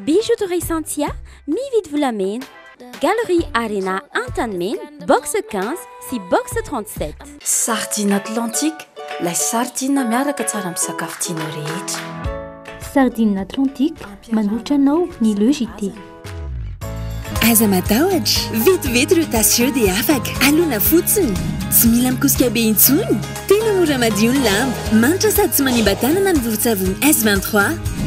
Bijouterie Santia, mividy volamena. Galerie Arena Antanimena, box 15 sy box 37. Sardine Atlantique, lay sardine miaraka tsara amin'ny sakafo tianao rehetra. Sardine Atlantique, manolotra anao ny Le JT. Aza matahotra, vetivety ireo tasy ireo dia afaka. Alona fotsiny. Tsy mila mikosika be intsony. Tena mora madio ny lamba. Manitra sady tsy manimba tanana ny vovo-tsavony S23.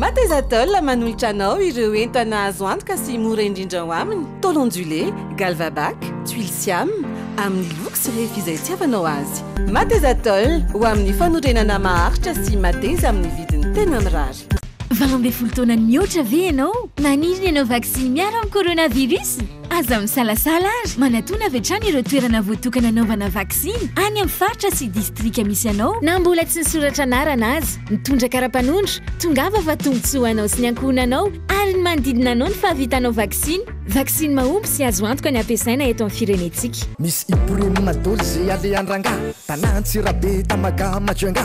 Matezatol manolotra anao ireo entana azo antoka sy mora indrindra ao aminy, tôle ondulée, galvabac, tuiles siam, amin'ny loko sy refy izay itiavanao azy. Matezatol, ho amin'ny fanorenana maharitra sy mateza amin'ny vidiny tena mirary. Valo ambin'ny folo taona nihoatra ve ianao? Maniry ny hanao vaksiny miaro amin'ny coronavirus? Aza misalasala ary manatona avy hatrany ireo toerana voatokana hanaovana vaksiny any amin'ny faritra sy distrika misy anao. Na mbola tsy nisoratra anarana aza, mitondra kara-panondro, tongava fa tombontsoa ho anao sy ny ankohonanao ary ny manodidina anao ny fahavitanao vaksiny. Vaksiny mahomby sy azo antoka ny hampiasaina eto amin'ny firenentsika. Misy i Premona doly ze alehan-drangah Tana Antsirabe Tamaga Majunga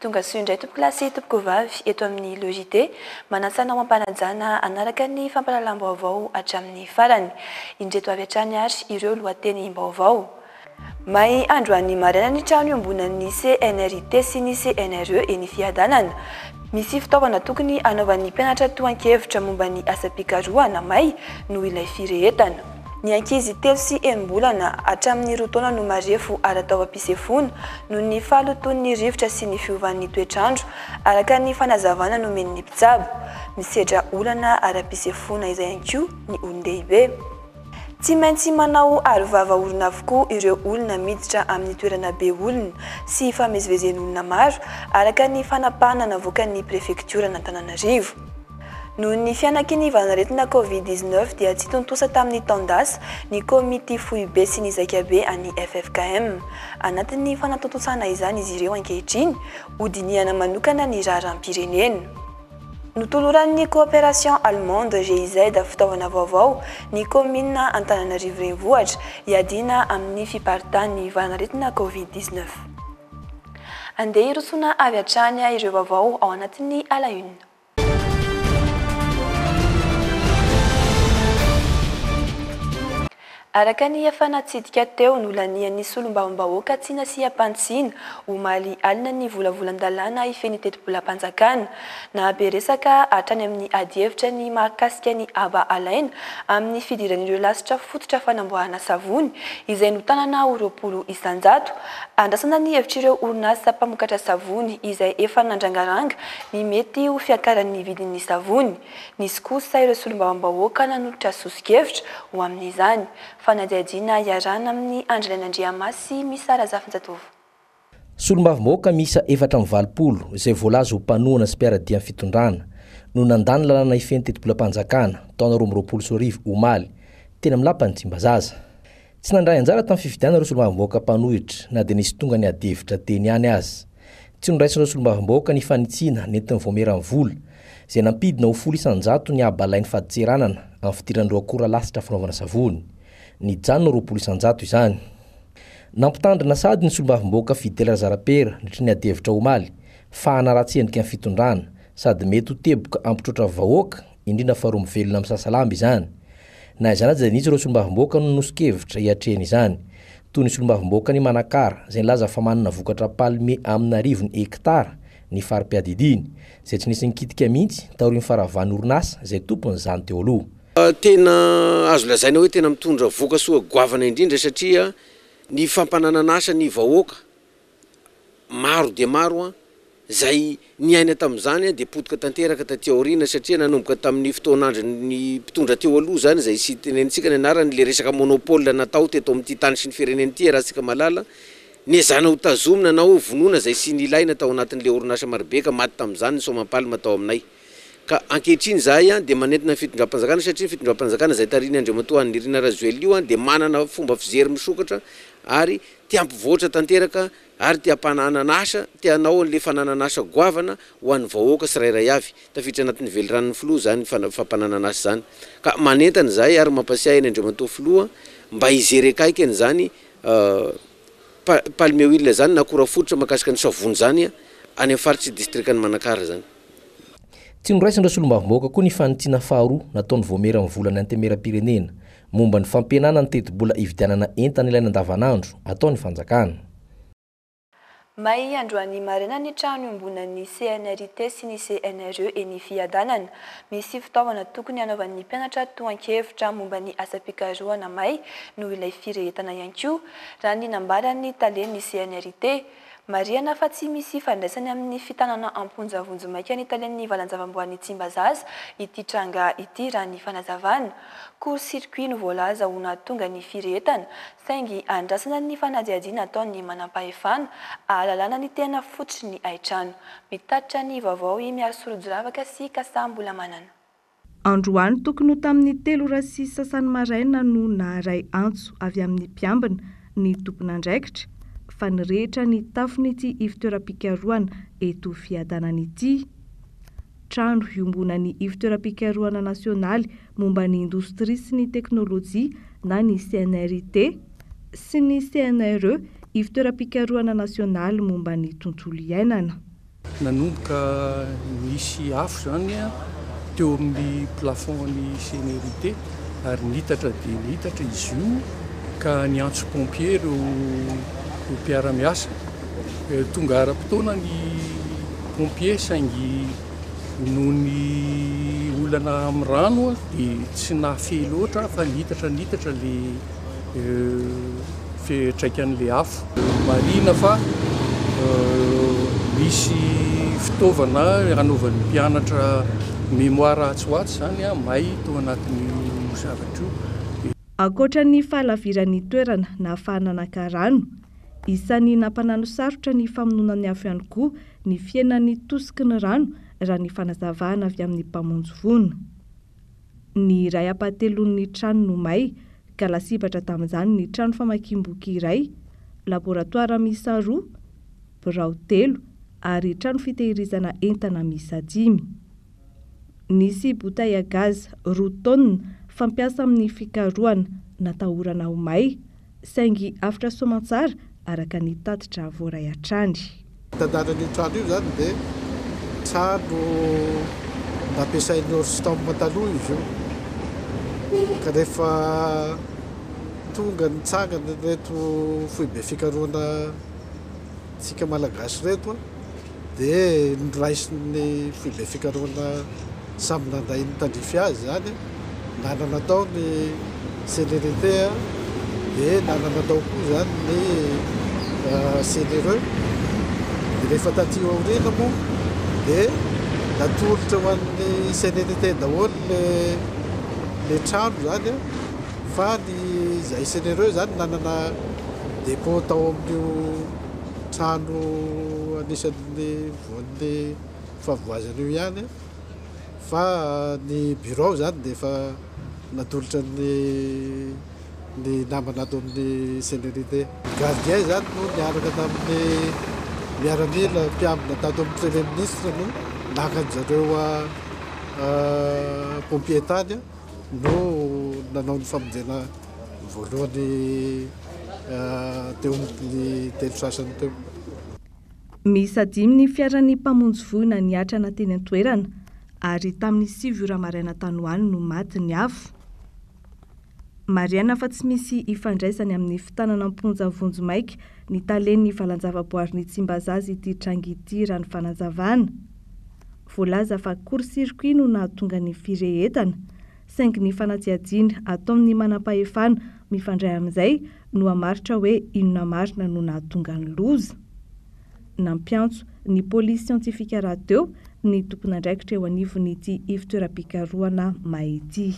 Tonga soa indray tompokolahy sy tompokovavy eto amin'ny Logidé. Manasa anao hampanajana hanaraka ny fampahalalam-baovao hatramin'ny farany. Indreto avy hatrany ary ireo lohatenim-baovao. May androany maraina ny trano iombonan'ny CNRIT sy ny CNRE eny Fiadanana. Misy fitaovana tokony hanaovan'ny mpianatra tohan-kevitra momba ny asam-pikarohana may noho ilay firehetana. Ny ankizy telo sy enim-bolana hatramin'ny roa taona no marefo ara-taovam-pisefoana noho ny fahalotoan'ny rivotra sy ny fiovan'ny toetr'andro, araka ny fanazavana nomen'ny mpitsabo. Misedra olana ara-pisefoana izay ihany koa ny olon-dehibe. Tsy maintsy manao arovava orona avokoa ireo olona miditra amin'ny toerana be olona sy ifamezivezen'olona maro, araka ny fanapahana navoakan'ny prefektioran'Antananarivo. Noho ny fianaky ny valan'aretina Covid dix-neuf dia tsy tontosa tamin'ny taon-dasa ny Komity Foibe sy ny Zaikabe an'ny ffkm. Anatin'ny fanatontosana izany izy ireo ankehitriny, hodinihana manokana ny raharaham-pirenena. Notoloran'ny Coopération Allemande, GIZ, fitaovana vaovao ny Kaominina Antananarivo Renivohitra hiadiana amin'ny fiparitahan'ny valan'aretina Covid dix-neuf. Andeha hirosoana avy hatrany ireo vaovao ao anatin'ny à la une. Araka ny efa natsidika teo, nolanian'ny solombavambahoaka tsy nasiam-panitsiana, omaly alina ny volavolan-dalàna hifehy ny tetibolam-panjakana. Nahabe resaka hatrany amin'ny adihevitra ny mahakasika ny haba alaina amin'ny fidiran'ireo lasitra fototra fanamboarana savony, izay notanana ho roapolo isan-jato. Andrasana ny hevitr'ireo orinasa mpamokatra savony izay efa nandrangaranga ny mety ho fiakaran'ny vidin'ny savony. Nisy kosa ireo solombavambahoaka nanolotra sosokevitra ho amin'izany. Fanadihadiana iarahana amin'ny Andry Rainandriamasy, Miss Sara Zafinjatovo. Solombavambahoaka miisa efatra amby valopolo izay voalaza ho mpanohana sy mpiara-dia amin'ny fitondrana no nandà ny lalàna hifehy ny tetibolam-panjakana taona roa amby roapolo sy roa arivo omaly, teny amin'ny lapan'i Tsimbazaza. Tsy nandray anjara tamin'ny fifidianana ireo solombavambahoaka mpanohitra na dia nisy tonga niady hevitra teny ihany aza. Tsy noraisin'ireo solombavambahoaka ny fanitsiana nentin'ny Vaomieran'ny Vola, izay nampidina ho folo isan-jato ny haba alain'ny fadintseranana amin'ny fidiran'ireo akora lasitra fanaovana savony. Nijanona ho roapolo isan-jato izany. Nampitandrina sady ny solombavambahoaka Fidèle Razarapera nandritra ny adihevitra omaly, fa hanaratsy endrika ny fitondrana, sady mety ho teboka hampitroatra vahoaka, indrindra fa roa mivelona misasalamba izany. Na izany aza dia nisy ireo solombavamboaka no noson-kevitra hiatrehina izany, toy ny solombavamboakan'i Manakara izay nilaza fa manana vokatra palme amina arivony hektara ny fari-piadidiany, izay tsy nisy nikitika mihitsy taorian'ny faravan'ny orinasa izay tompon'izany teo aloha. Tena azo lazaina hoe tena mitondra voka-soa goavana indrindra satria ny fampananan'asa ny vahoaka Maro dia maro izay niaina tamin'izany dia potika tanteraka taty aoriana satria nanomboka tamin'ny fotoan'andron'ny mpitondra teo aloha izany izay tsy tenenintsika ny anarany ilay resaka monopole natao teto amin'ity tany sy ny firenena ity iarahantsika malala. Niezana ho tazomina na hoe vonoina izay tsy nilaina tao anatin'ilay orinasa marobe ka maty tamin'izany ny soamam-palma tao aminay. Ka ankehitriny izahay dia manentana ny fitondram-panjakana satria ny fitondram-panjakana izay tarihin'i Andriamatoa Haninirina Rajoelina io dia manana fomba fijery misokatra ary Te hampivoatra tanteraka ary te hampananana asa, te hanao an'le fananana asa goavana ho an'ny vahoaka tsirairay avy. Tafiditra anatin'ny veliranon'ny Filoha izany fampananana asa izany. Ka manentana izahay ary mampasiahy an'i Andriamatoa Filoha mba hijery akaiky an'izany Palmewil izany na akora fototra mahakasika ny savony izany any amin'ny faritr'i Distrikan'i Manakara izany. Tsy noraisin'ireo solombavambahoaka koa ny fanitsiana faharoa nataon'ny Vaomieran'ny Volan'ny Antemeram-pirenena momba ny fampihenana ny tetibola hividianana entana ilaina andavanandro ataon'ny fanjakana. May androany maraina ny trano iombonan'ny CNRIT sy ny CNRE eny Fiadanana. Misy fitaovana tokony hanaovan'ny mpianatra tohan-kevitra momba ny asam-pikarohana may noho ilay firehetana ihany koa, raha ny nambaran'ny talen'ny CNRIT. Marihana fa tsy misy ifandraisany amin'ny fitanana am-ponja vonjimaika ny talen'ny valan-javaboahan'i Tsimbazaza ity tranga ity raha ny fanazavana. Court circuit no voalaza ho nahatonga ny firehetana, saingy andrasana ny fanadihadiana ataon'ny manampahefana ahalalana ny tena fototry ny haitrano. Mitatitra ny vaovao i Mialy Sorojorafaka sy Kasaha Mbolamanana. Androany tokony ho tamin'ny telo ora sy sasany maraina no naharay antso avy amin'ny mpiambina ny tompon'andraikitra fa nirehitra ny tafon'ity ivontoeram-pikarohana eto Fiadanana ity. Trano iombonan'ny Ivontoeram-pikarohana nasionaly momba ny indostria sy ny teknolojia na ny CNRIT sy ny CNRE, Ivontoeram-pikarohana nasionaly momba ny tontolo iainana. Nanomboka nisy afo izany teo amin'ny plafond-n'ny CNRIT ary niitatra dia niitatra izy io ka niantso pompiers ireo mpiara-miasa. Tonga ara-potoana ny pompiers saingy noho ny olana amin'ny rano dia tsy nahafehy loatra fa niitatra niitatra ilay afo. fiantraikan'ilay afo. Marihina fa misy fitaovana anaovan'ny mpianatra mémoire atsy ho atsy izany may tao anatin'io zavatra io. Ankoatra ny fahalaviran'ny toerana nahafahana naka rano, isan'ny nampananosarotra ny famonoana ny afo ihany koa ny fihenan'ny tosiky ny rano raha ny fanazavana avy amin'ny mpamonjy voina. Ny iray ampahatelon'ny trano no may, ka lasibatra tamin'izany ny trano famakiam-boky iray, laboratoara miisa roa, birao telo ary trano fitehirizana entana miisa dimy. Nisy bouteille à gaz roa tonnes fampiasa amin'ny fikarohana natahorana ho may, Saingy avotra soamantsara araka ny tatitra voaray hatrany. Mitandahatra an'io trano io izany dia trano nampiasain'i Orstom taloha izy io, ka rehefa tonga nitsangana ireto foibe fikarohana tsika Malagasy ireto, Dia noraisin'ny foibe fikarohana samy nandray ny tandrify azy izany, nanana tao ny célérité dia nanana tao koa izany ny céléreux. Dia rehefa taty aoriana moa dia natolotra ho an'ny célérité daholo ilay trano izany fa ny izay céléreux izany nanana dépôt tao amin'io. trano anisan'ny voan'ny fahavoazana io ihany fa ny birao izany dia efa natolotra ny ny namana ato amin'ny Cellérité. Ny gardien izany no niaraka tamin'ny miaramila mpiambina tato amin'ny Premier Ministre no naka an-dry zareo Pompiers tany no nanao ny famonjena. ny voalohany teo amin'ny telo sasany teo. Miisa dimy ny fiaran'ny mpamonjy voina niatrana teny an-toerana ary tamin'ny sivy ora maraina tany ho any no maty ny afo. Marihana fa tsy misy ifandraisany amin'ny fitanana am-ponja vonjimaika ny talen'ny valanjavaboarin'i Tsimbazaza ity tranga ity raha ny fanazavana. Voalaza fa court-circuit no nahatonga ny firehetana. saingy ny fanatsiatsiana ataon' ny manampahefana mifandray amin' izay no hamaritra hoe inona marina no nahatonga ny loza. Nampiantso ny pôlisy siantifika rahateo ny tompon' andraikitra eo anivon' ity ivontoeram-pikarohana may ity.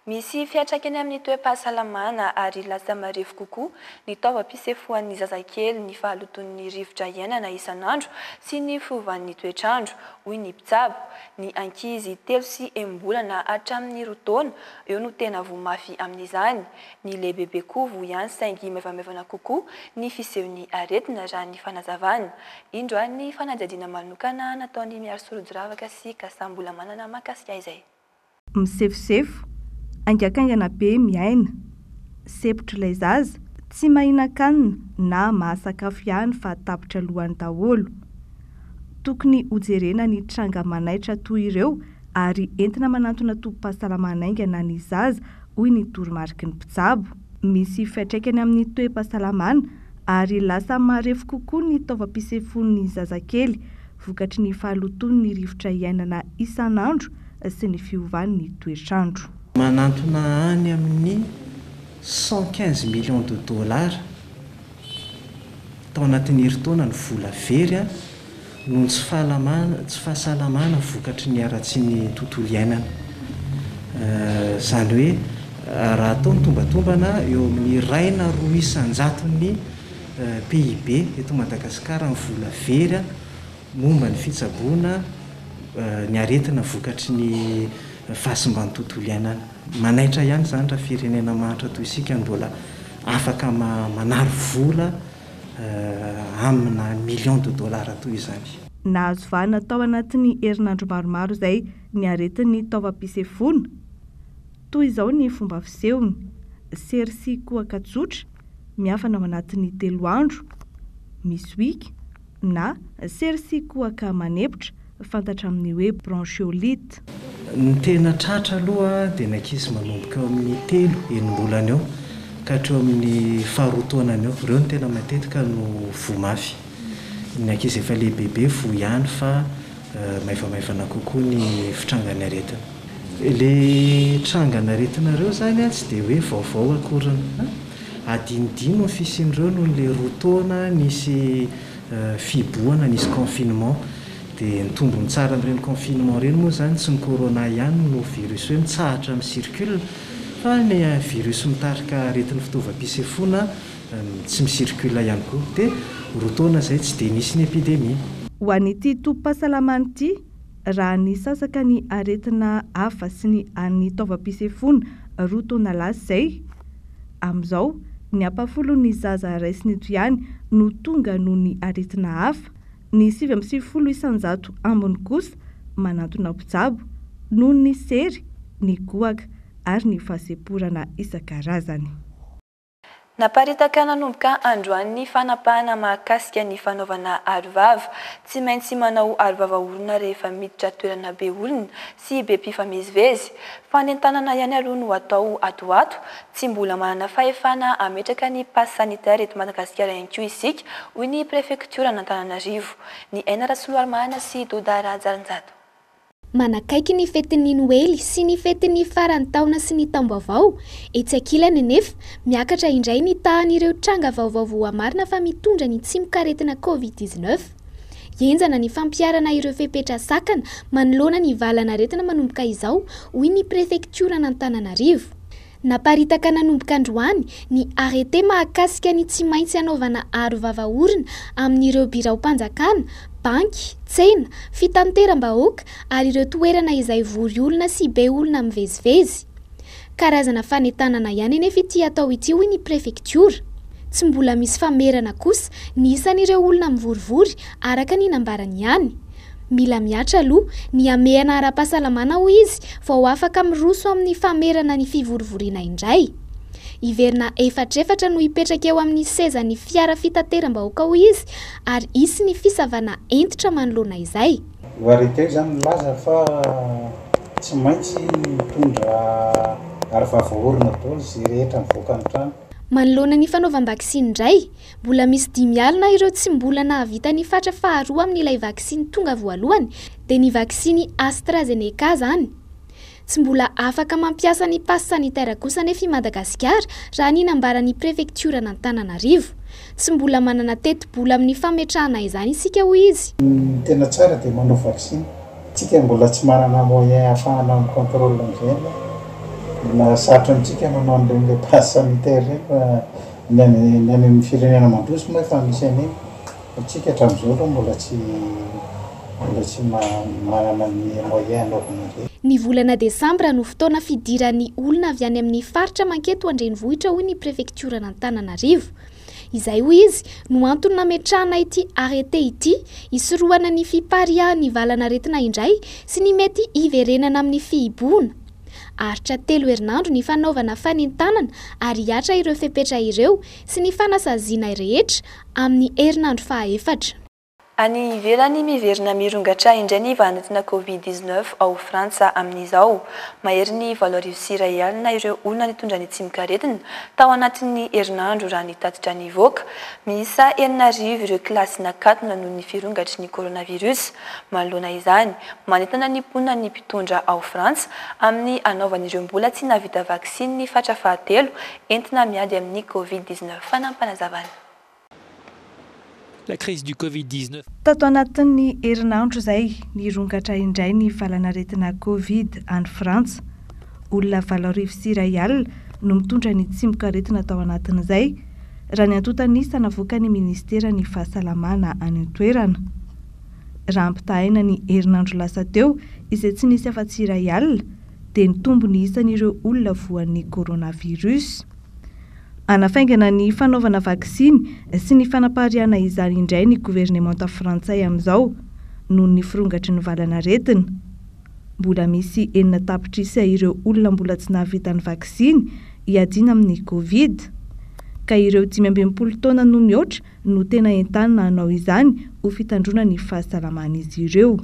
Misy fiantraikany amin' ny toe-pahasalamana ary lasa marefo kokoa ny taovam-pisefoan' ny zazakely, ny fahalotoan' ny rivotra iainana isan' andro sy ny fiovan' ny toetrandro, hoy ny mpitsabo. Ny ankizy telo sy enim-bolana hatramin'ny roa taona eo no tena voa mafy amin'izany. Ny lehibebe koa voa ihany saingy maivamaivana kokoa ny fisehon'ny aretina raha ny fanazavana. Indro ary ny fanadihadiana manokana nataon'i Miary Sorodoravaka sy Kasa Mbolamanana mahakasika izay. Misefosefo, haingankaingana be miaina. Sepotr'ilay zaza, tsy mahinan-kanina na mahasakafo ihany fa tapitra lohany daholo. Tokony hojerena ny tranga manaitra toy ireo ary entina manantona tobim-pahasalamana haingana ny zaza, hoy ny toromariky ny mpitsabo. Misy fiantraikany amin'ny toe-pahasalamana ary lasa marefo kokoa ny taovam-pisefoan'ny zazakely vokatry ny fahalotoan'ny rivotra iainana isan'andro sy ny fiovan'ny toetr'andro. Manantona any amin'ny cent quinze millions de dollars tao anatin'ny herintaona ny vola very noho ny tsy fahalamana, tsy fahasalamana vokatry ny haratsian'ny tontolo iainana. Izany hoe raha atao ny tombatombana eo amin'ny iray na roa isan-jaton'ny PIB eto Madagasikara ny vola very momba ny fitsaboana ny aretina vokatry ny fahasimban'ny tontolo iainana. Manaitra ihany izany raha firenena mahantra toy isika no mbola afaka manary vola amina millions de dollars toy izany. Nahazo vahana tao anatin'ny herinandro maromaro izay ny aretin'ny taovam-pisefoana. Toy izao ny fomba fisehony, sery sy kohaka tsotra, miafana ao anatin'ny telo andro, misy wig, na sery sy kohaka manepotra, fantatra amin'ny hoe bronchiolite. Ny tena tratra aloha dia ny ankizy manomboka eo amin'ny telo, enim-bolana eo ka hatreo amin'ny faharoa taonany eo. Ireo no tena matetika no voa mafy. Ny ankizy efa lehibebe voa ihany fa. maivamaivana kokoa ny fitrangan'ny aretina. Ilay trangan'aretinareo izany tsy dia hoe vaovao akoriny. Adinodino ny fisian'ireo noho ilay roa taona nisy fihibohana, nisy confinement. Dia ny tombony tsara amin'ireny confinement ireny moa izany tsy ny corona ihany no virus hoe mitsahatra mi-circule fa ny virus mitarika aretin'ny fitaovam-pisefoana tsy mi-circule ihany koa. Dia ho roa taona izay tsy dia nisy ny epidemie. Ho an'ity tobim-pahasalamana ity, raha nisasaka ny aretina hafa sy ny an'ny taovam-pisefoana roa taona lasa izay, amin'izao, ny ampahafolon'ny zaza raisiny eto ihany no tonga noho ny aretina hafa, ny sivy amby sivifolo isan-jato ambiny kosa manantona mpitsabo noho ny sery, ny goaka ary ny fahasemporana isan-karazany. Naparitaka nanomboka androany ny fanapahana mahakasika ny fanaovana arovava. Tsy maintsy manao arovava olona rehefa miditra toerana be olona sy be mpifamezivezy. Fanentanana ihany aloha no atao ato ho ato. Tsy mbola manana fahefana hametraka ny pass sanitaire eto Madagasikara ihany koa isika, hoy ny prefektioran'Antananarivo, ny Aina Rasoloarimanana sy Doda Rahajarinjato. Manakaiky ny fetin'ny Noely sy ny fetin'ny faran'ny taona sy ny taom-baovao. Etsy ankilany anefa, miakatra indray ny tahan'ireo tranga vaovao voamarina fa mitondra ny tsimokaretina Covid dix neuf. Henjana ny fampiharana ireo fepetra sakana manoloana ny valan'aretina manomboka izao, hoy ny prefektioran'Antananarivo. Naparitaka nanomboka androany ny arrêté mahakasika ny tsy maintsy hanaovana aro vava orona amin'ireo biraom-panjakana, banky, tsena, fitanteram-bahoaka ary ireo toerana izay vory olona sy be olona mivezivezy. Karazana fanentanana ihany anefa ity atao ity hoy ny prefektiora. Tsy mbola misy famerana kosa ny isan'ireo olona mivorivory araka ny nambarany ihany. Mila mihatra aloha ny hamehana ara-pahasalamana hoy izy vao afaka miroso amin'ny famerana ny fivorivoriana indray. Hiverina efatrefatra no hipetraka eo amin'ny sezan'ny fiara fitateram-bahoaka hoy izy ary hisy ny fisavana hentitra manoloana izay. Io arrêté io izany milaza fa tsy maintsy mitondra arovava orona daholo izay rehetra mivoaka ny trano. Manoloana ny fanaovam-baksiny indray, Mbola misy dimy alina ireo tsy mbola nahavita ny fatra faharoa amin'ilay vaksiny tonga voalohany, dia ny vaksiny AstraZeneca izany. Tsy mbola afaka mampiasa ny pass sanitaire kosa anefa i Madagasikara, raha ny nambaran'ny prefektioran'Antananarivo. Tsy mbola manana tetibola amin'ny fametrahana izany isika, hoy izy. Ny tena tsara dia manao vaksiny. Isika mbola tsy manana moyen ahafahana mi-contrôle an'izay aloha. Mbola sarotra amintsika manao an'ireny ilay pass sanitaire ireny fa. Ny any ny any amin'ny firenena mandroso moa efa misy an'iny fa tsika hatramin'izao aloha mbola tsy mbola tsy manana ny moyen hanaovana an'ireny. Ny volana desambra no fotoana fidiran'ny olona avy any amin'ny faritra manketo an-drenivohitra hoy ny prefektioran'Antananarivo. Izay hoy izy no antony nametrahana ity arrêté ity hisorohana ny fipariahan'ny valan'aretina indray sy ny mety hiverenana amin'ny fihibohana. Aharitra telo herinandro ny fanaovana fanentanana ary hihatra ireo fepetra ireo sy ny fanasaziana rehetra amin'ny herinandro fahaefatra. Any ivelany, Miverina mirongatra indray ny vahan'aretina Covid dix neuf ao Frantsa amin'izao. Mahery ny valo arivo sy iray alina ireo olona nitondra ny tsimok'aretina tao anatin'ny herinandro raha ny tatitra nivoaka. Miisa enina arivo ireo kilasy nakatona noho ny firongatry ny coronavirus manoloana izany. Manentana ny mponina ny mpitondra ao Frantsa amin'ny hanaovan'ireo mbola tsy nahavita vaksiny ny fatra fahatelo entina miady amin'ny Covid dix neuf. Fanampanazavan'i. Tato anatin'ny herinandro izay, nirongatra indray ny valanaretina Covid any Frantsa. Olona valo arivo sy iray alina no mitondra ny tsimokaretina tao anatin'izay, raha ny antontan'isa navoakan'ny minisiteran'ny Fahasalamana any an-toerana. Raha ampitahaina ny herinandro lasa teo izay tsy nisy afa-tsy iray alina dia nitombo ny isan'ireo olona voan'ny coronavirus. Hanafaingana ny fanaovana vaksiny sy ny fanapariahana izany indray ny governemanta frantsay amin'izao noho ny firongatry ny valanaretina. Mbola misy enina tapitrisa ireo olona mbola tsy nahavita ny vaksiny hiadiana amin'ny covid ka ireo dimy amby enimpolo taona no mihoatra no tena entanina hanao izany ho fitandroana ny fahasalaman'izy ireo.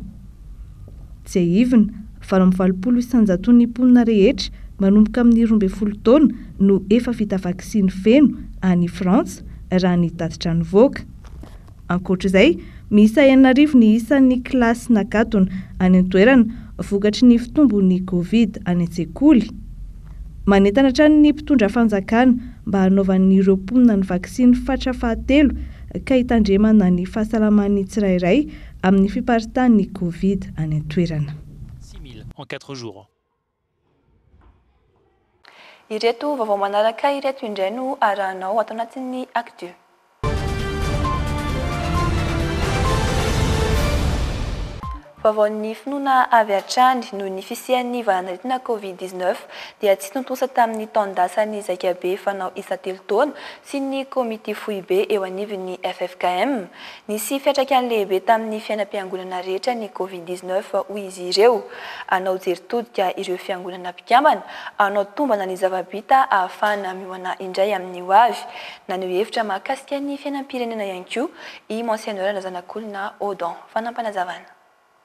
Tsiahivina, valo amby valopolo isanjaton'ny mponina rehetra manomboka amin'ny roa ambin'ny folo taona no efa vita vaksiny feno any Frantsa, raha ny tatitra nivoaka. Ankoatra izay, miisa enina arivo ny isan'ny kilasy nakatona any an-toerana vokatry ny fitombon'ny Covid any an-tsekoly. Manentana hatrany ny mpitondra fanjakana mba hanaovan'ireo mponina ny vaksiny fatra fahatelo ka hitandremana ny fahasalaman'ny tsirairay amin'ny fiparitahan'ny Covid any an-toerana. Six mille en quatre jours. Ireto vaovao manaraka ireto indray no arahanao ato anatin'ny Actu. Vaovaon'ny finoana avy hatrany, noho ny fisian'ny valan'aretina Covid dix neuf dia tsy tontosa tamin'ny taon-dasan'ny zaikabe fanao isa-telo taona sy ny Komity Foibe eo anivon'ny ffkm. Nisy fiantraikany lehibe tamin'ny fiainam-piangonana rehetra ny Covid dix neuf hoy izy ireo. Anao jery todika ireo fiangonana mpikambana, anao tombana ny zava-bita ahafahana miomana indray amin'ny hoavy. Naneho hevitra mahakasika ny fiainam-pirenena ihany koa i Monseigneur Razanakolona Odon. Fanampanazavan.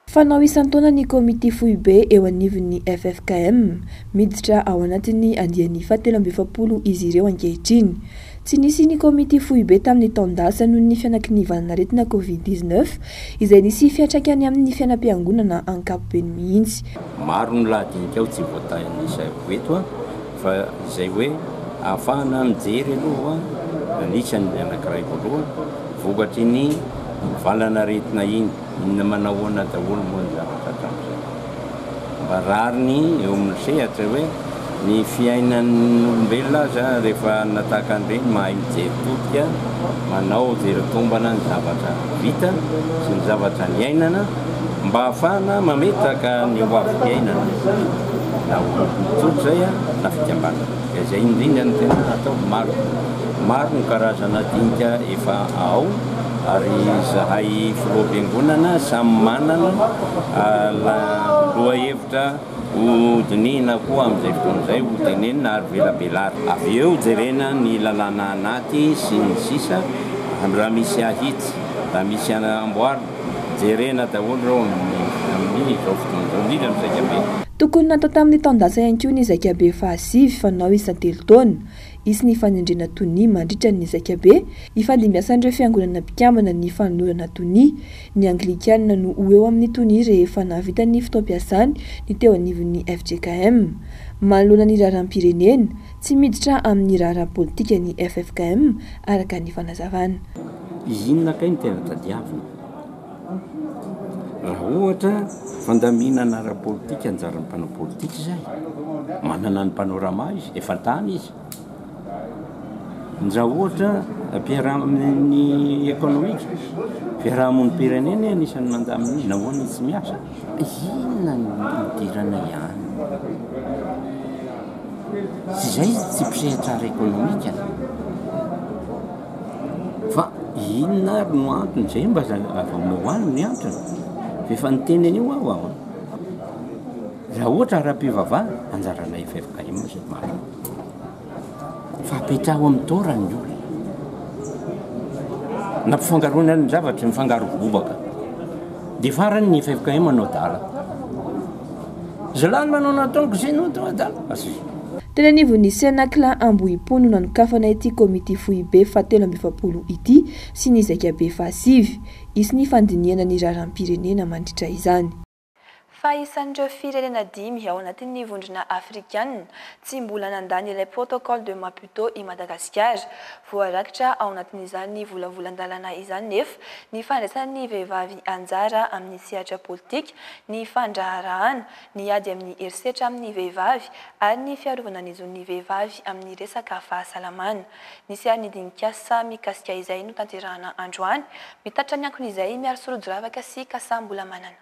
Fanao isan-taona ny Komity Foibe eo anivon'ny ffkm. Miditra ao anatin'ny andiany fahatelo amby efapolo izy ireo ankehitriny. Tsy nisy ny Komity Foibe tamin'ny taon-dasa noho ny fianakinivanan'aretina Covid dix-neuf izay nisy fiantraikany amin'ny fiainam-piangonana ankapobeny mihitsy. Maro ny laha dinika ao tsy voatahin'ny Saivo eto. Fa izay hoe ahafahana mijery aloha mandritra ny anankiray voalohany, vokatry iny valanaretina iny, inona manahoana daholo moa ny zavatra hatramin'izay. Mba rariny eo amin'ny sehatra hoe ny fiainan'olombelona aza rehefa hanana tahaka an'ireny mahay mijery todika, manao jery tombana ny zavatra vita sy ny zavatra niainana mba ahafahana mametraka ny hoavy-piainana. Nahoana vao mijoro izay an? na fikambanana. Dia izay indrindra no tena atao. Maro, maro ny karazana dinika efa ao ary izahay filoham-piangonana samy manana lohahevitra ho dinihina koa amin'izay fotoana izay, ho tenenina ary velabelarina. Avy eo jerena ny lalàna anaty sy ny sisa, raha misy ahitsy, raha misy amboarina. Jerena daholo ireo amin'ny izao fotoana izao, indrindra ny Zaikabe. Tokony natao tamin'ny taon-dasa ihany koa ny Zaikabe fahasivy fanao isan-telo taona. Hisy ny fanendrena tonia mandritra ny Zaikabe ifandimbiasan'ireo fiangonana mpikambana ny fanolorana tonia. Ny Anglikana no ho eo amin'ny tonia rehefa nahavita ny fotoam-piasany ny teo anivon'ny fjkm. Manoloana ny raharaham-pirenena, tsy miditra amin'ny raharaha politika ny ffkm, araka ny fanazavana. Izy inona kay no tena tadiavina? Raha ohatra fandaminana ara-politika anjaran'ny mpanao politika izay, manana ny Panorama izy, efa tany izy. Nja ohatra ny ekonomika, fiaraha-monim-pirenena e no isan'ny mandamina izy, nahoana izy tsy miasa? Inona no hidirana ihany? Tsy izay izy tsy mpisehatra ara-ekonomika. Fa inona ary no antony zay mba azahoanao any ny antony? Fa efa niteny an'io aho an! Raha ohatra ara-pivavahana, anjaranay ffkm zay marina. Fa apetraho amin'ny taorany ny olona. Nampifangaroana ny zavatra, mifangaro bobaka. Dia farany ny ffkm hanao dala. Zalahy manao nataoko zay no atao adala asy. Teny anivon'ny Cenacla Ambohipo no nanokafana ity komity foibe fahatelo amby efapolo ity sy ny zaikabe fahasivy. Hisy ny fandinihana ny raharaham-pirenena mandritra izany. Fa isan'ireo firenena dimy ao anatin'ny Vondrona Afrikanina tsy mbola nandany ilay Protocole de Maputo i Madagasikara. Voarakitra ao anatin'izany volavolan-dalàna izany nefa ny fandraisan'ny vehivavy anjara amin'ny sehatra politik ny fandraharahana, ny ady amin'ny herisetra amin'ny vehivavy ary ny fiarovana ny zon'ny vehivavy amin'ny resaka fahasalamana. Ny seharin'ny dinikasa mikasika izay notanterahana androany, mitatitra ny ankon'izay miarisoa rodoravaka sy kasambola manana.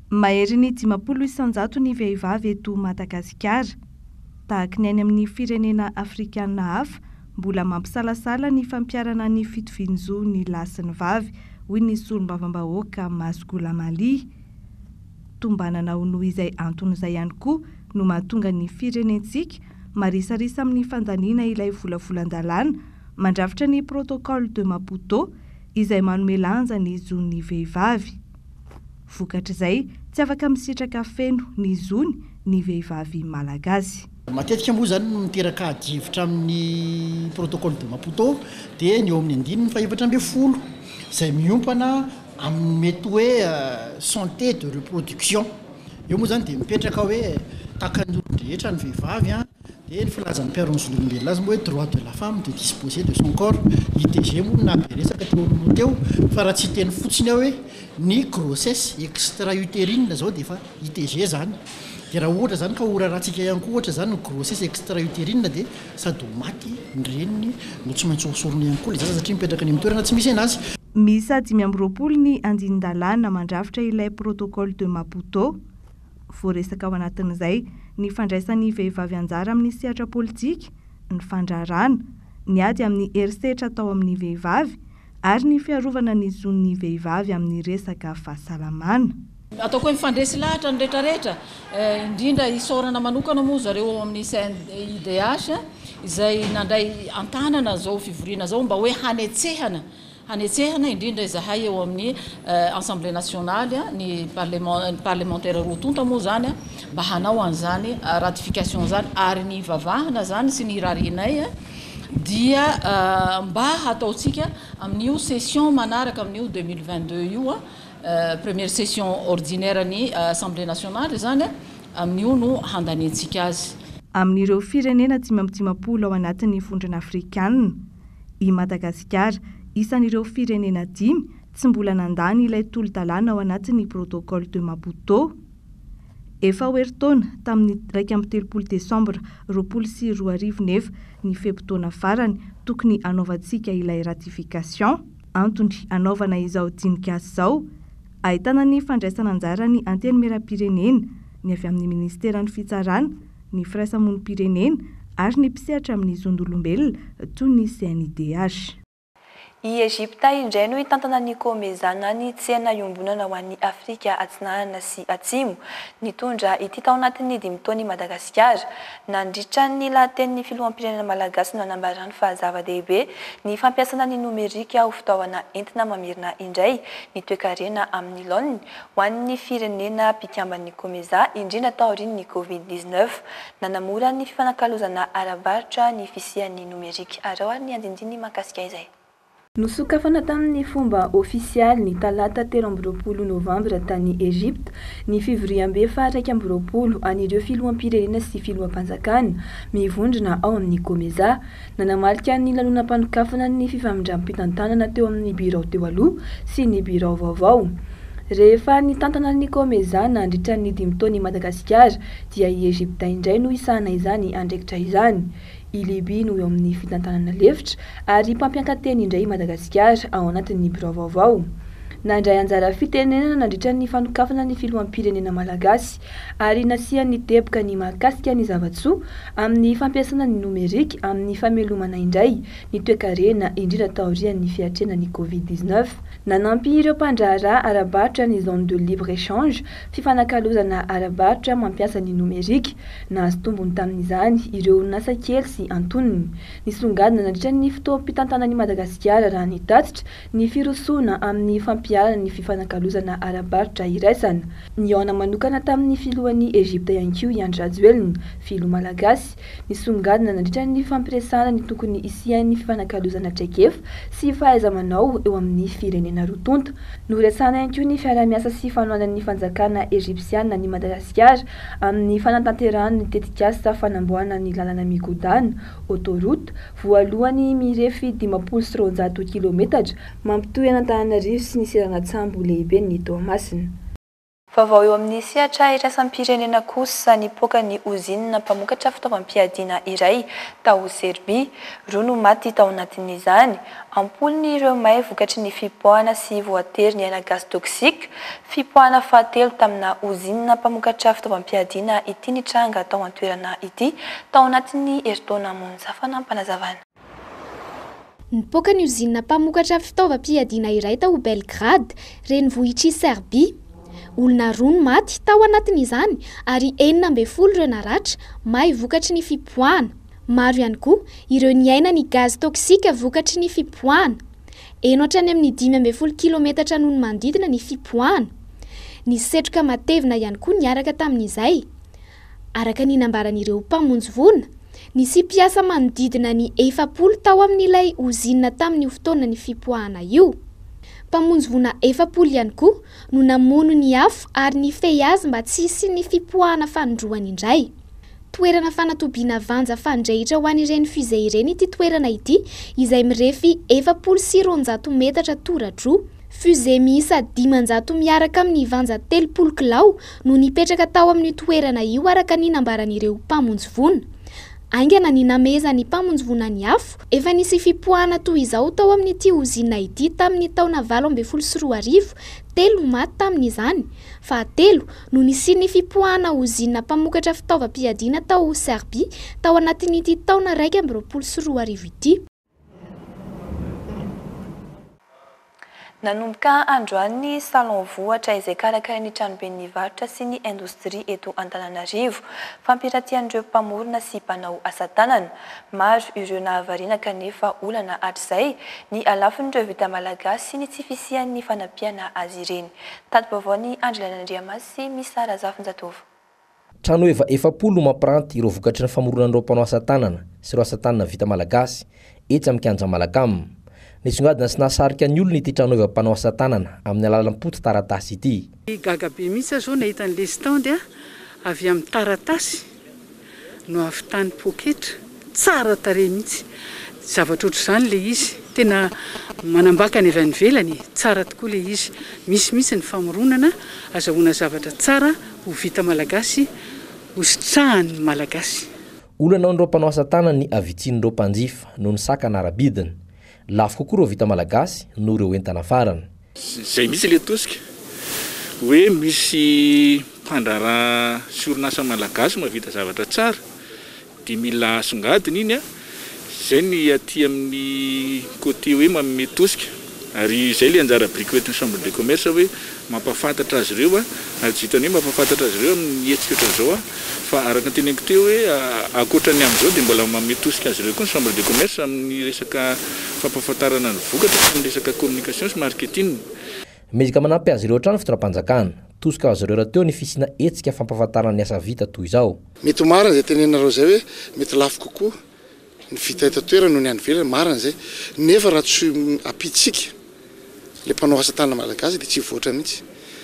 Maherin'ny dimampolo isan-jato ny vehivavy eto Madagasikara. Tahaka ny any amin'ny firenena afrikana hafa, mbola mampisalasala ny fampiharana ny fitovian-jo ny lahy sy ny vavy, hoy ny solombavambahoaka Mass Ghulam Ali. Tombanana ho noho izay antony izay ihany koa no mahatonga ny firenentsika marisarisa amin'ny fandaniana ilay volavolan-dalàna mandrafitra ny Protocole de Maputo izay manome lanja ny zon'ny vehivavy. Vokatr'izay, tsy afaka misitraka feno ny zony ny vehivavy malagasy. Matetika moa izany no miteraka adihevitra amin'ny Protocole de Maputo dia ny eo amin'ny andininy fahefatra ambin'ny folo izay miompana amin'ny mety hoe santé de reproduction. Eo moa izany dia mipetraka hoe takan'ny olon-drehetra ny vehivavy. Dia ny filazan'ny mpiaro ny zon'olombelona azy moa hoe droit de la femme de disposer de son corps. ITG moa no naha be resaka teo aloha teo fa raha tsy hiteny fotsiny aho hoe ny grossesse extra uterine izao dia efa ITG izany. Dia raha ohatra izany ka ho rarahantsika ihany koa ohatra izany ny grossesse extra uterine dia sady ho maty ny reniny no tsy maintsy hosorona ihany koa ilay zaza satria mipetraka any amin'ny toerana tsy misy an'azy. Miisa dimy amby roapolo ny andinin-dalàna mandrafitra ilay Protocole de Maputo. voaresaka ao anatin'izay ny fandraisan'ny vehivavy anjara amin'ny sehatra politika, ny fandraharahana, ny ady amin'ny herisetra atao amin'ny vehivavy ary ny fiarovana ny zon'ny vehivavy amin'ny resaka fahasalamana. Ataoko hoe mifandresy lahatra ny retraretra, indrindra isaorana manokana moa zareo ao amin'ny CNIDH izay nandray an-tanana izao fivoriana izao mba hoe hanetsehana Hanetsehana indrindra izahay eo amin'ny Assemblée nationale, ny parlemantera roa tonta moa izany, mba hanao an'izany ratification izany, ary ny ivavahana izany sy ny irarianay dia mba hataontsika amin'io session manaraka amin'io deux mille vingt-deux io, première session ordinaire ny Assemblée nationale izany, amin'io no handaniantsika azy. Amin'ireo firenena dimy amby dimampolo ao anatin'ny Vondrona Afrikana. I Madagasikara, isan'ireo firenena dimy tsy mbola nandany ilay tolo-dalàna ao anatin'ny Protocole de Maputo. Efa ho herintaona tamin'ny iraika amby telopolo desambra roapolo sy roa arivo nefa ny fe-potoana farany tokony hanaovantsika ilay ratification. Antony hanaovana izao dinika izao, ahitana ny fandraisan'anjaran'ny Antenimierampirenena, ny avy amin'ny Ministeran'ny Fitsarana, ny firaisamonim-pirenena ary ny mpisehatra amin'ny zon'olombelona toy ny CNIDH. I Egypta indray no hitantana ny Comesa na ny tsena iombonana ho an'i Afrika Atsinanana sy Atsimo. Nitondra ity tao anatin'ny dimy taona i Madagasikara. Nandritra ny lahatenin'ny filoham-pirenena malagasy no nanambarany fa zava-dehibe ny fampiasana ny nomerika ho fitaovana entina mamerina indray ny toekarena amin'ny laoniny Ho an'ny firenena mpikamban'ny Comesa, indrindra taorian'ny Covid dix neuf, nanamora ny fifanakalozana ara-barotra ny fisian'ny nomerika. Araho ary ny andinindiny mahakasika izay. Nosokafana tamin'ny fomba ofisialy ny talata telo amby roapolo novambra tany Egypta ny fivoriambe faha-iraika amby roapolo an'ireo filoham-pirenena sy filoham-panjakana mivondrona ao amin'ny Comesa, Nanamarika ny lanonam-panokafana ny fifamindram-pitantanana teo amin'ny birao teo aloha sy ny birao vaovao. Rehefa nitantana ny COMESA nandritra ny dimy taona i Madagasikara dia i Egypta indray no hisahana izany andraikitra izany. I Libya no eo amin'ny fitantanana lefitra ary mpampianka-teny indray i Madagasikara ao anatin'ny birao vaovao. Nandray anjara fitenenana nandritra ny fanokafana ny filoham-pirenena malagasy, ary nasiany teboka ny mahakasika ny zava-tsoa amin'ny fampiasana ny nomerika amin'ny famelomana indray ny toekarena indrindra taorian'ny fiatrenan'ny Covid dix neuf. Nanampy ireo mpandraharaha ara-barotra ny Zone de libre échange, fifanakalozana ara-barotra mampiasa ny nomerika. Nahazo tombony tamin'izany ireo orinasa kely sy antonony. Nisongadina nandritra ny fotoam-pitantanan'i Madagasikara raha ny tatitra, Ny firosoana amin'ny fampiharana ny fifanakalozana ara-barotra iraisana. Nihaona manokana tamin'ny filohan'i Egypta ihany koa i Andry Rajoelina, filoha malagasy, nisongadina nandritra ny fampiresahana ny tokony hisian'ny fifanakalozana traikefa sy fahaiza-manao eo amin'ny firenena roa tonta. Noresahana ihany koa ny fiaraha-miasa sy fanohanan'ny fanjakana Egypsiana an'i Madagasikara amin'ny fanatanterahana ny tetikasa fanamboahana ny lalana migodàna, autoroute, voalohany mirefy dimampolo sy roanjato kilometatra, mampitohy an'Antananarivo sy ny seranan-tsambo lehiben'i Toamasina. Vaovao eo amin'ny sehatra iraisam-pirenena kosa, nipoaka ny ozinina mpamokatra fitaovam-piadiana iray tao Serbia. Roa no maty tao anatin'izany. Am-polony ireo may vokatry ny fipoahana sy voatery niaina gaz toxique. Fipoahana fahatelo tamina ozinina mpamokatra fitaovam-piadiana ity nitranga tao an-toerana ity, tao anatin'ny herintaona. Zafaina am-panazavana. Nipoaka ny ozinina mpamokatra fitaovam-piadiana iray tao Belgrad, renivohitr'i Serbia. Olona roa no maty tao anatin'izany ary enina ambin'ny folo ireo naratra may vokatry ny fipoahana. Maro ihany koa ireo niaina ny gazy toksika vokatry ny fipoahana. Heno hatrany amin'ny dimy ambin'ny folo kilometatra noho ny manodidina ny fipoahana. Nisy setroka matevina ihany koa niaraka tamin'izay. Araka ny nambaran'ireo mpamonjy voina, nisy mpiasa manodidina ny efapolo tao amin'ilay ozinina tamin'io fotoana nifipoahana io. Mpamonjy voina efapolo ihany koa no namono ny afo ary nifehy azy mba tsy hisian'ny fipoahana fanindroany indray. Toerana fanatobiana vanja fandrehitra ho an'ireny fusées ireny ity toerana ity izay mirefy efapolo sy roanjato metatra tora-droa. Fusées miisa dimanjato miaraka amin'ny vanja telopolo kilao no nipetraka tao amin'io toerana io araka ny nambaran'ireo mpamonjy voina. Haingana ny namehezan'ny mpamonjy voina ny afo. Efa nisy fipoahana toy izao tao amin'ity ozinina ity tamin'ny taona valo ambin'ny folo sy roa arivo, telo maty tamin'izany. Fahatelo, no nisian'ny fipoahana ozinina mpamokatra fitaovam-piadiana tao Serbia tao anatin'ity taona iraika amby roapolo sy roa arivo ity. Nanomboka androany ny Salon Vohitra izay karakarain'ny Tranoben'ny Varotra sy ny Indostria eto Antananarivo. Fampiratian'ireo mpamorona sy mpanao asa tanana. Maro ireo nahavariana kanefa olana hatrizay ny halafon'ireo vita malagasy sy ny tsy fisian'ny fanampiana azy ireny. Tadi-baovaon'i Andry Lainandriamasy sy Missa Razafinjatovo. Trano eva efapolo no mampiranty ireo vokatry ny famoronan'ireo mpanao asa tanana sy ireo asa tanana vita malagasy etsy amin'ny Kianja Malacam. Nisongadina sy nahasarika ny olona ity tranoeva mpanao asa tanana amin'ny alalan'ny poty taratasy ity. Gaga be mihitsy aho izao nahita ny lesitandy avy amin'ny taratasy no avy tany poketra. Tsara tarehy mihitsy. Zavatra ohatr'izany ilay izy. Tena manambaka ny avy any ivelany e. Tsara tokoa ilay izy. Misy mihitsy ny famoronana. Azahoana zavatra tsara ho vita malagasy, ho sitrahan'ny malagasy. Olana amin'ireo mpanao asa tanana ny havitsian'ireo mpanjifa noho ny sakana ara-bidiny. Lafo kokoa ireo vita malagasy noho ireo entana farany. Izay mihitsy ilay tosika hoe misy mpandraharaha sy orinasa malagasy mahavita zavatra tsara dia mila asongadina iny an! Izay ny aty amin'ny côté hoe manome tosika ary izay ilay anjara biriky ho entin'ny chambre de commerce hoe mampahafantatra azy ireo an! Ary tsy vitan'ny hoe mampahafantatra azy ireo amin'ny hetsika ohatran'izao an! Fa araka ny teneniko teo hoe ankoatra ny amin'izao dia mbola manome tosika azy ireo koa ny chambre de commerce amin'ny resaka fampahafantarana ny vokatra sy ny resaka communication sy marketing. Mezaka manampy azy ireo hatrany ny fitondram-panjakana. Tosika ho azy ireo rahateo ny fisiana hetsika fampahafantarana ny asa vita toy izao. Mety ho marina izay tenenareo izay hoe mety lafo kokoa. Ny vita eto an-toerana noho ny any ivelany, marina izay, nefa raha tsy ampiantsika ilay mpanao asa tanana malagasy dia tsy hivoatra mihitsy.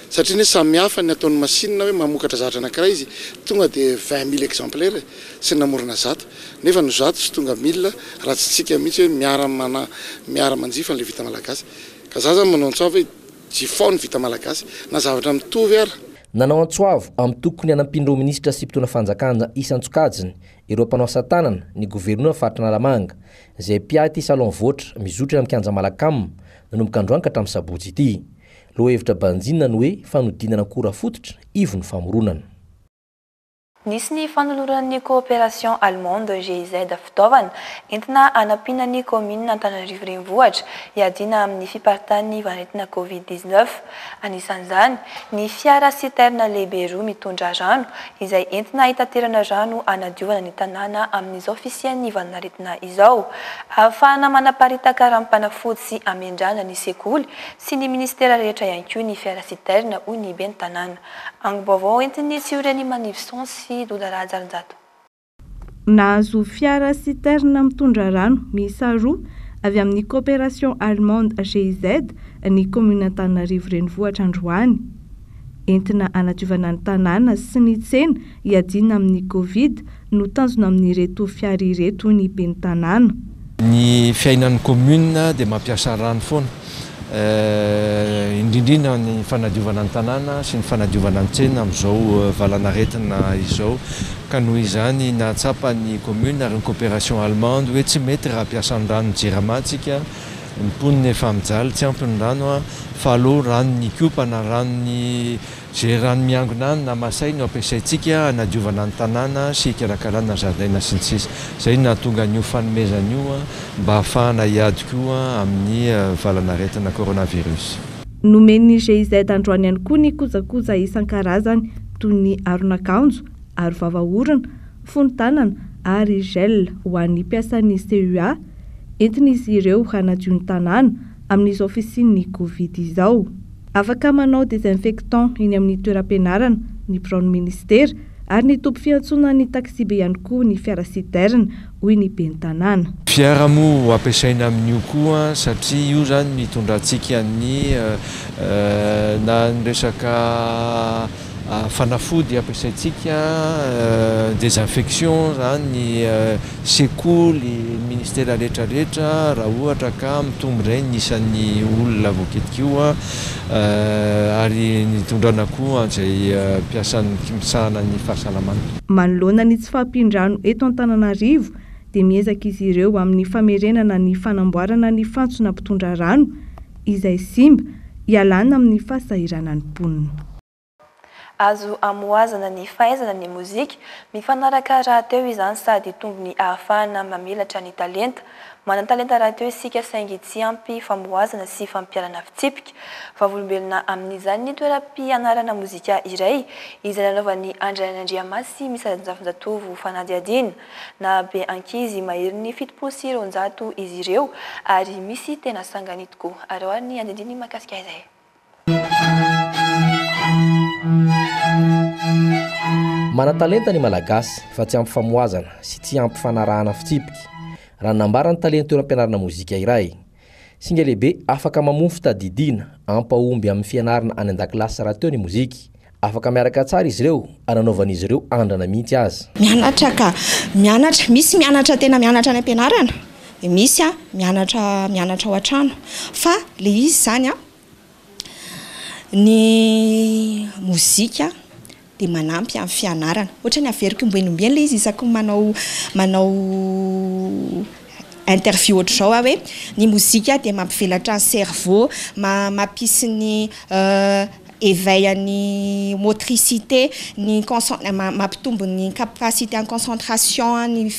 Satria anie samy hafa ny ataon'ny masinina hoe mamokatra zavatra anankiray izy tonga dia vingt mille exemplaires sy namorona zato nefa ny zato tsy tonga mille raha tsy tsika mihitsy hoe miara-mana miara-manjifa an'ilay vita malagasy. Ka za zany manao antsoava hoe jifao ny vita malagasy na zavatra mitovy ara. Nanao antsoavo amin'ny tokony hanampian'ireo minisitra sy mpitondra fanjakana isan-tsokajiny ireo mpanao asa tanana, ny governora faritra Analamanga, izay mpiaty salon voatra mizotra eny amin'ny kianja Malacam, nanomboka androany ka hatramin'ny sabotsy ity. Lohahevitra banjinina ny hoe fanodinana akora fototra ivon'ny famoronana. Nisy ny fanoloran'ny Coopération Allemande, GIZ, fitaovana entina hanampiana ny kaominina Antananarivo Renivohitra hiadiana amin'ny fiparitahan'ny vanin'aretina Covid dix-neuf. Anisan'izany, Ny fiara citerne lehibe roa mitondra rano, izay entina hitaterana rano hanadiovana ny tanàna amin'izao fisian'ny valan'aretina izao. Ahafahana manaparitaka ranom-panafody sy amendrana ny sekoly sy ny minisitera rehetra ihany koa ny fiara citerne, hoy ny ben'ny tanàna. Angom-baovao entin'ny Tsiorenimanivison sy Doda Rahajarinjato. Nahazo fiara citerne mitondra rano miisa roa avy amin'ny Coopération Allemande GIZ ny kaominin'Antananarivo Renivohitra androany. Entina hanadiovana ny tanàna sy ny tsena hiadiana amin'ny Covid no tanjona amin'ireto fiara ireto hoy ny ben'ny tanàna. Ny fiainan'ny commune dia mampiasa rano foana, indrindrindra ny fanadiovana ny tanàna sy ny fanadiovana ny tsena amin'izao valan'aretina izao ka noho izany nahatsapa ny commune ary ny coopération allemande hoe tsy mety raha hampiasa ny ranon'ny Jirama tsika, ny mponina efa mijaly tsy ampy ny rano fa aleo ranon'ny Ikopa na ranon'ny. Izay rano miangona any na masay no ampiasaintsika hanadiovana ny tanàna sy hikarakarana zaridaina sy ny sisa Izay no nahatonga an'io fanomezana io mba hahafahana hiady koa amin'ny valanaretina coronavirus. Nomen'ny GIZ androany ihany koa ny kojakoja isan-karazany toy ny aron'akanjo, aro vava orona, fonon-tanana ary gel ho an'ny mpiasan'ny CUA. Entin'izy ireo hanadio ny tanàna amin'izao fisian'ny Covid izao. Afaka manao désinfectant eny amin'ny toeram-pianarana ny biraon'ny minisitera ary ny toby fiantsonan'ny taxibe ihany koa ny fiara citerne, hoy ny ben'ny tanàna. Fiara moa ho ampiasaina amin'io koa satria io izany no hitondrantsika ny na ny resaka. Fanafody ampiasaintsika, désinfection, zany ny sekoly, ny ministera rehetra rehetra raha ohatra ka mitombo indray ny isan'ny olona voakitika io ary ny hitondrana koa an'izay mpiasan'ny misahana ny fahasalamana. Manoloana ny tsy fahampian-drano eto Antananarivo dia miezaka izy ireo amin'ny famerenana ny fanamboarana ny fantsona mpitondra rano, izay simba, ialana amin'ny fahasahiranan'ny mponina. Azo amohazana ny fahaizana ny mozika, mifanaraka rahateo izany sady hitombo ny ahafahana mamelatra ny talenta. Manan-talenta rahateo isika saingy tsy ampy famohazana sy fampiharana fitsipika. Vavolombelona amin'izany ny toeram-pianarana mozika iray izay nanaovan'i Andry Andriamasy Misarinjafinjatovo fanadihadiana. Nahabe ankizy maherin'ny fitopolo sy roanjato izy ireo ary misy tena sangany tokoa. Ary ao ary ny andinindininy mahakasika izay. Manan-talenta ny Malagasy fa tsy ampy famohazana sy tsy ampy fanarahana fitsipika, raha ny nambaran'ny talen'ny toeram-pianarana mozika iray. Singa lehibe afaka mamoa fitadidiana hampahomby amin'ny fianarana any an-dakilasy rahateo ny mozika. Afaka miaraka tsara izy ireo ary anaovan'izy ireo andrana mihitsy aza. Mianatra ka mianatra. Misy mianatra tena mianatra any am-pianarana dia misy mianatra mianatra ao an-trano fa ilay izy izany an! Ny mozika dia manampy amin'ny fianarana, ohatra ny averiko ombieny ombieny ilay izy isaky ny manao manao interview ohatr'izao aho hoe ny mozika dia mampivelatra ny cerveau, ma- mampisy ny éveil an'ny motricité, ny conc- ma- mampitombo ny capacité en concentration an'ny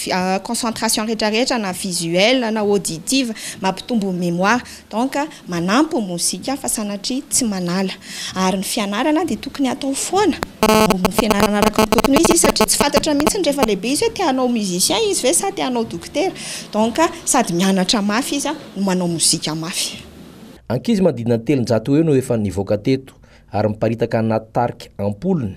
concentration rehetra rehetra na visuelle na auditive, mampitombo ny mémoire. Donc manampy ny mozika fa sanatria tsy manala. Ary ny fianarana dia tokony atao foana, mba ho fianarana araka ny tokony ho izy izy satria tsy fantatra mihitsy ny rehefa lehibe izy hoe te hanao musicien izy ve sa te hanao dokotera. Donc sady mianatra mafy izy no manao mozika mafy. Ankizy manodidina ny telonjato eo no efa nivoaka teto ary miparitaka anaty tarika am-polony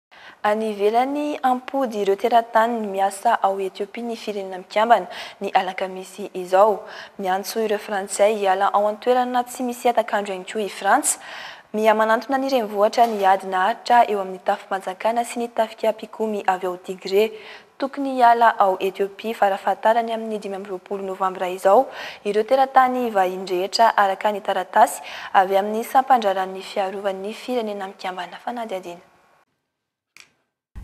Any ivelany, hampody ireo teratany miasa ao Ethiopie ny Firenena Mikambana, ny alakamisy izao. Miantso ireo Frantsay hiala ao an-toerana tsy misy hatak'andro ihany koa i Frantsa. Miha-manantona ny renivohitra ny ady naharitra eo amin'ny tafi-panjakana sy ny tafika mpikomy avy ao Tigrée. Tokony hiala ao Ethiopie farafahatarany amin'ny dimy amby roapolo novambra izao ireo teratany vahiny rehetra, araka ny taratasy avy amin'ny Sampan-draharahan'ny Fiarovan'ny Firenena Mikambana Fanadihadiana.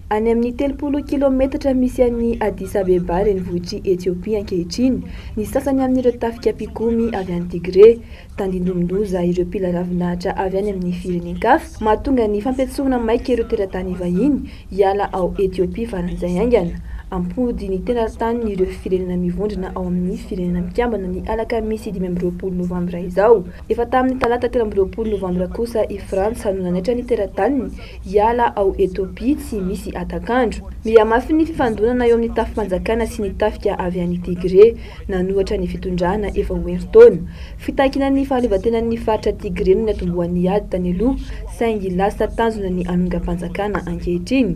Any amin'ny telopolo kilaometatra misy an'i Addis Abeba renivohitr'i Ethiopia ankehitriny ny sasany amin'ireo tafika mpikomy avy any Tigré. Tandindomin-doza ireo mpila ravin'ahitra avy any amin'ny firenen-kafa, mahatonga ny fampiantsoana maika ireo teratany vahiny hiala ao Ethiopia faran'izay haingana. Hampody ny teratanin'ireo firenena mivondrona ao amin'ny Firenena Mikambana ny alakamisy dimy amby roapolo novambra izao. Efa tamin'ny talata telo amby roapolo novambra kosa i Frantsa no nanaitra ny tera-taniny hiala ao Ethiopia tsy misy hatak'andro. Mihamafy ny fifandonana eo amin'ny tafi-panjakana sy ny tafika avy any Tigray nanohatra ny fitondrana efa ho herintaona. Fitakiana ny fahaleovantenan'ny faritra Tigray no niatombohan'ny ady tany aloha saingy lasa tanjona ny hanongam-panjakana ankehitriny.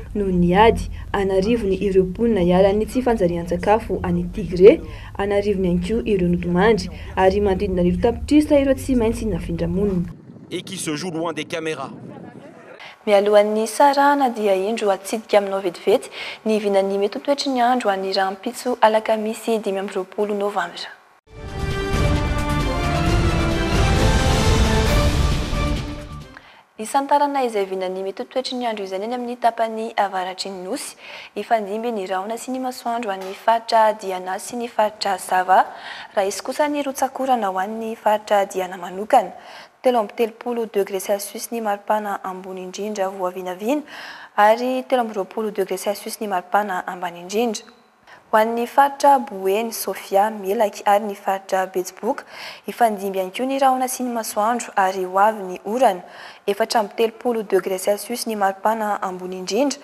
Noho ny ady, an'arivony ireo mponina ialan'ny tsy fanjarian-tsakafo any Tigré, an'arivony ihany koa ireo nodimandry, ary manodidina arivo tapitrisa ireo tsy maintsy nafindra-monina. et qui se joue loin des cameras. Mialohan'ny hisarahana dia indro hatsidika aminao vetivety ny vinan'ny mety ho toetry ny andro any rahampitso alakamisy dimy amby roapolo novambra. Hisantarana izay vinan'ny mitotoetry ny andro izany any amin'ny tapany avaratry ny Nosy. Hifandimby ny rahona sy ny masoandro ho an'ny faritra Diana sy ny faritra Sava. Raha hisy kosa ny rotsak'orana ho an'ny faritra Diana manokana. Telo amby telopolo degré celsius ny maripana ambony indrindra voavinavina ary telo amby roapolo degré celsius ny maripana ambany indrindra. Ho an'ny faritra Boeny, Sofia, Melaky ary ny faritra Betsiboka, hifandimby ihany koa ny rahona sy ny masoandro ary ho avy ny orana, efatra amby telopolo degre celsius ny maripana ambony indrindra,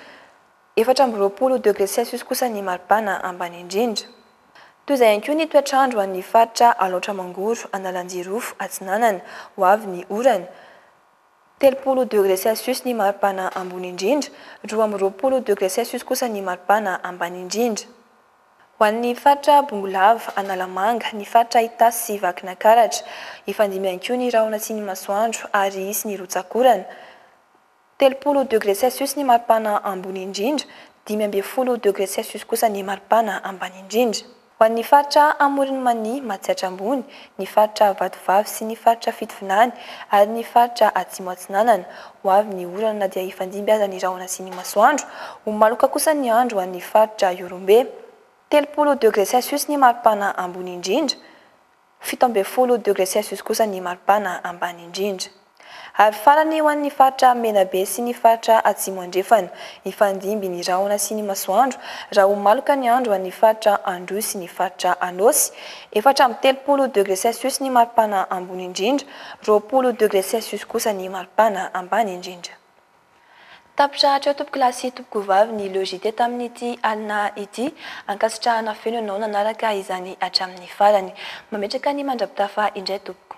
efatra amby roapolo degre celsius kosa ny maripana ambany indrindra. Toy izay ihany koa ny toetr'andro ho an'ny faritra Alaotra Mangoro, Analanjirofo, Atsinanana, ho avy ny orana, Telopolo degre celsius ny maripana ambony indrindra, roa amby roapolo degre celsius kosa ny maripana ambany indrindra. Ho an'ny faritra Bongolava, Analamanga, ny faritra Itasy sy Vakinakaratra, hifandimby ihany koa ny rahona sy ny masoandro ary hisy ny rotsak'orana. Telopolo degre celsius ny maripana ambony indrindra, dimy ambin'ny folo degre celsius kosa ny maripana ambany indrindra. Ho an'ny faritra Amoron'i Mania, Matsiatra Ambony, ny faritra Vatovavy sy ny faritra Fitovinany ary ny faritra Atsimo Atsinanana, ho avy ny orana na dia hifandimby aza ny rahona sy ny masoandro. Ho maloka kosa ny andro ho an'ny faritra Ihorombe. Telopolo degre celsius ny maripana ambony indrindra Fito ambin'ny folo degre celsius kosa ny maripana ambany indrindra. Ary farany ho an'ny faritra Menabe sy ny faritra Atsimo Andrefana, hifandimby ny rahona sy ny masoandro raha ho maloka ny andro ho an'ny faritra Androy sy ny faritra Anôsy, efatra amby telopolo degre celsius ny maripana ambony indrindra, roapolo degre celsius kosa ny maripana ambany indrindra. Tapitra hatreo tompoko lahy sy tompoko vavy ny logite tamin'ity alina ity, ankasitrahana feno ianao nanaraka izany hatramin'ny farany. Mametraka ny mandrapitafa indray tompoko.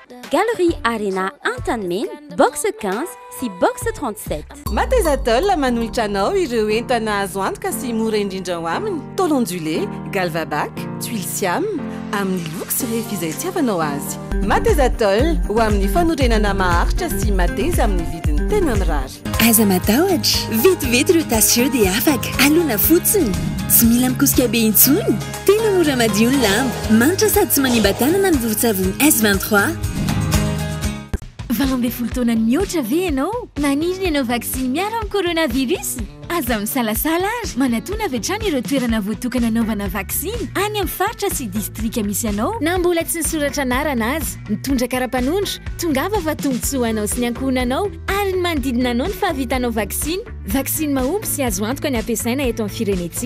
Galerie Arena Antanimena, box 15 sy box 37. Matezatol manolotra anao ireo entana azo antoka sy mora indrindra ao aminy, tôle ondulée, Galvabac, tuiles siam, amin'ny loko sy refy izay itiavanao azy. Matezatol, ho amin'ny fanorenana maharitra sy mateza amin'ny vidiny tena mirary. Aza matahotra, vetivety ireo tasy ireo dia afaka. Alona fotsiny. Tsy mila mikosika be intsony. Tena mora madio ny lamba, manitra sady tsy manimba tanana ny vovo-tsavony S 23. Valo ambin'ny folo taona mihoatra ve ianao? Maniry ny hanao vaksiny miaro amin'ny coronavirus? Aza misalasala ary manatona avy hatrany ireo toerana voatokana hanaovana vaksiny any amin'ny faritra sy distrika misy anao na mbola tsy nisoratra anarana aza. Mitondra kara-panondro, tongava fa tombontsoa ho anao sy ny ankohonanao ary ny manodidina anao ny fahavitanao vaksiny. Vaksiny mahomby sy azo antoka ny hampiasaina eto amin'ny firenentsika.